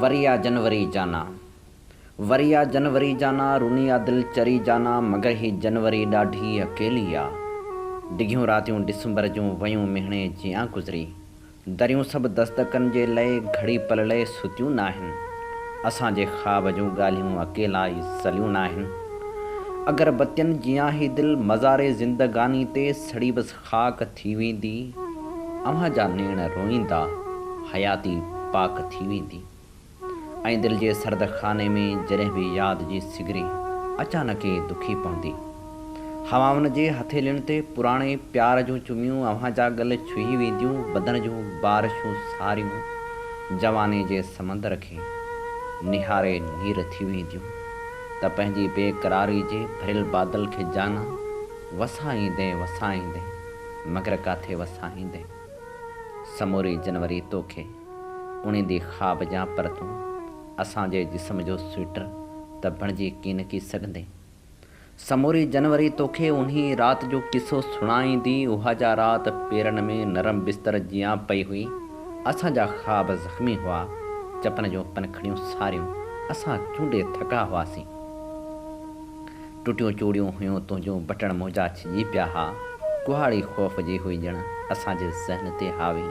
وريا جنوري جانا وريا جنوري جانا روني آ دل چري جانا مگر هي جنوري ڏاڍي اڪيلي آ ڊگهيون راتيون ڊسمبر جون ويون مهڻي جيان گذري دريون سڀ دس دڪن جي لئي گهڙي پل لئي ستيون ناهن اسان جي خواب جون ڳالهيون اڪيلا ئي سليون ناهن اگر بتين جيان هي دل مزاري زندگاني تي سڙي بس خاڪ ٿي ويندي، اوهان جا نيڻ روئيندا، حياتي پاڪ ٿي ويندي. ۽ دل جي سرد خاني ۾ جڏهن به ياد جي سگري اچانڪ ئي دکي پوندي. هوائن جي هٿيلين تي پراڻي پيار جون چميون اوهان جا ڳل ڇهي وينديون بدن جون بارشون ساريون جواني جي سمندر کي نهاري نير ٿي وينديون ته پنهنجي بي قراري جي ڀريل بادل کي جانا وسهائيندين وسهائيندين مگر ڪاٿي وسهائيندين سموري جنوري توکي اڻيندي خواب جا پر تون اسان جي جسم جو سوئٽر ته بڻجي ڪينڪي سگهندين سموري جنوري توکي انهي رات جو قصو سڻائيندي اها جا رات پيرن ۾ نرم بستر جيان پئي هئي اسان جا خواب زخمي هئا چپن جون پنکڙيون ساريون اسان چونڊي ٿڪا هئاسين. ٽٽيون چوڙيون هيون تنهنجون بٽڻ منهنجا ڇڄي پيا ها ڪهاڙي خوف جي هئي ڄڻ اسان جي ذهن تي حاوي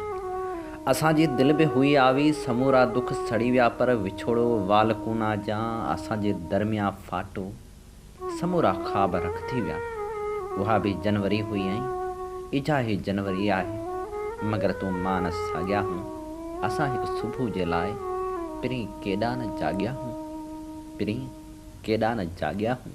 اسان جي دل به هئي آوي سمورا دک سڙي ويا پر وڇوڙو وال ڪونا جيان اسان جي درميان ڦاٽو سمورا خواب رک ٿي ويا اها به جنوري هئي ۽ اجها هي جنوري آهي مگر تون مان ساڳيا هون اسان هڪ صبح جي لاء پرين ڪيڏا نه جاڳيا هون پرين. ڪيڏا نه جاڳيا هون.